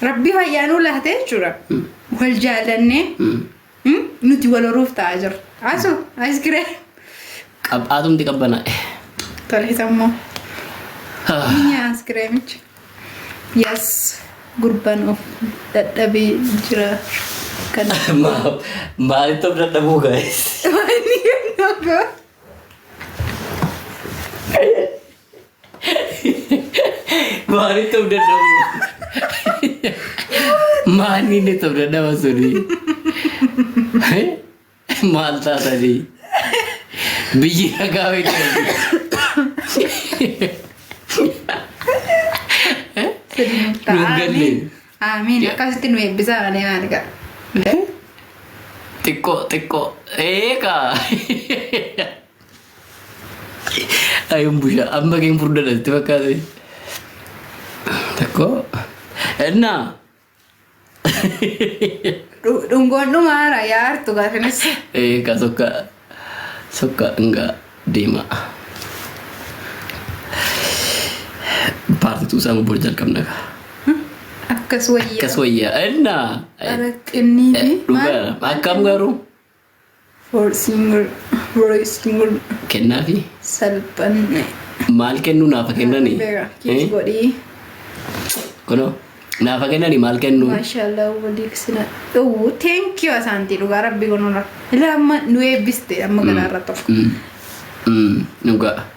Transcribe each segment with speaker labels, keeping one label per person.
Speaker 1: Rabbi fayyaa nuu laatee jechuudha. Wal jaallannee mm, nuti wal horuuf ta'aa jirra. Asu askiree Qab
Speaker 2: atumti qabbanaa. toleessa
Speaker 1: immoo ni nyaa askireemicha. Yes gurbaan of dadhabee jira kan.
Speaker 2: Maalitti of dadhabuu guys? Wani kan nagaa. Maaliif ta'uu danda'u? Maanni inni ta'uu danda'u suni? Maal taatanii? Biyyi nagaa beekanii.
Speaker 1: Nuuf galle. Aamiin. Akkasitti nu eebbisaa malee maali ga'a.
Speaker 2: Xiqqoo xiqqoo. Eegaa. Ayun busha amma keen furda dhalti fakkaate. Takko. Enna.
Speaker 1: Dhu- Dhungoon dhumaara yaa hartu gaafines. Eh ka sokka
Speaker 2: sokka nga deema. Paarti tuu isaan bor jalqabna ka. Akkas
Speaker 1: wayyaa. Akkas wayyaa.
Speaker 2: Enna. Ara xinniiti.
Speaker 1: Dhugaa akkam
Speaker 2: garuu.
Speaker 1: Horse mur, royce mur, Kennaafi
Speaker 2: salphanne.
Speaker 1: maal
Speaker 2: kennuu naafa kennani? Beera, Eh? kiis godhii. Kunoo naafa kennani maal kennuu? Maashaallah waliif
Speaker 1: sina dhowwu. Thank you asaantii dhugaa rabbi gonora. Ilaa amma nu eebbiste amma galaarra tokko. Mm. Mm.
Speaker 2: Dhugaa.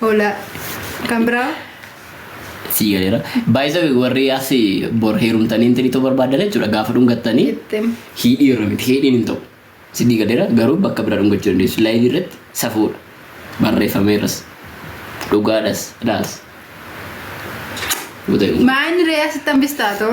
Speaker 2: Hola.
Speaker 1: Kan biraa? Sii
Speaker 2: galeera. Baay'isawe warri as bor heerumtanii intini ta'uu barbaaddan jechuudha gaafa dhungattanii Ittim. hiidhii
Speaker 1: irra miti
Speaker 2: hiidhiin hin ta'u. Sidii galeera garuu bakka biraa dhungachuu dandeessu. Laayivii irratti safuudha. Barreeffameeras. Dhugaadhas. Dhaas.
Speaker 1: Guutamee. Maa inni re'ee asitti hambistaa too?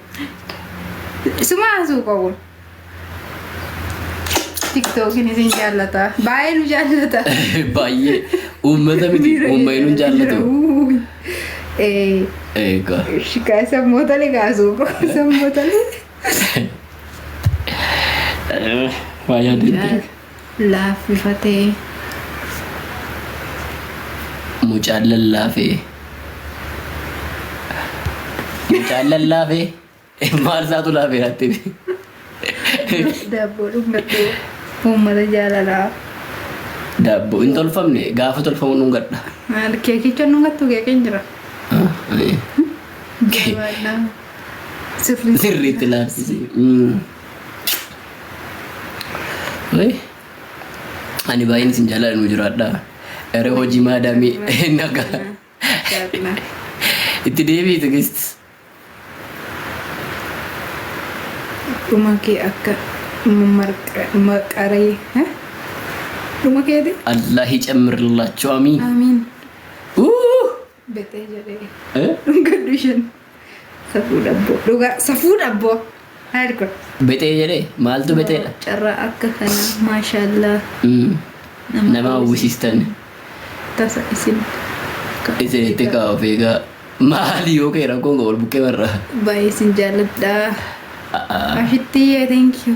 Speaker 1: Isuma haasuu qabu. Tiktookiin isin jaallata. Baay'ee nu jaallata. Baay'ee
Speaker 2: uummata miti uumma hin jaallatu. Ee, Eegaa. shikaa sammootale
Speaker 1: kaasuu qabu. Sammootale.
Speaker 2: Waa yaadatti. laaffifatee mucaan lallaafee mucaan lallaafee maal isaatu laafee laatti daabboo
Speaker 1: dhungadhu uummata jaalalaa
Speaker 2: daabboo hin tolfamne gaafa tolfamu dhungadha maal keekicha
Speaker 1: dhungattu keekiin jira Ah, eh. jabaadhaa
Speaker 2: sirrii sirriitti laaffise. Mm. Wai. Ani baay'een isin jaalala nu jiraadha. Gara hojii maadaamii naga. Itti deebi'i tigisti.
Speaker 1: Dhuma kee akka maqaree. Dhuma keeti. Allahi
Speaker 2: cammirlaachuu amiin. Amiin.
Speaker 1: Uu! Betee jedhee. Eh? Gaddu isheen. Safuu dhabboo. Dhugaa safuu dhabboo. Haayir kun. Betee jedhee
Speaker 2: maaltu beteedha? Carraa akka kana
Speaker 1: maashaallah. Mm.
Speaker 2: Nama Nama hawwisiistan. Tasa isin.
Speaker 1: Isin
Speaker 2: itti kaa'u beekaa. Maali yoo kee rakkoon koo wal
Speaker 1: bukkee barraa? Baay'ee isin
Speaker 2: jaalladha. Ashitti yee
Speaker 1: thank
Speaker 2: you.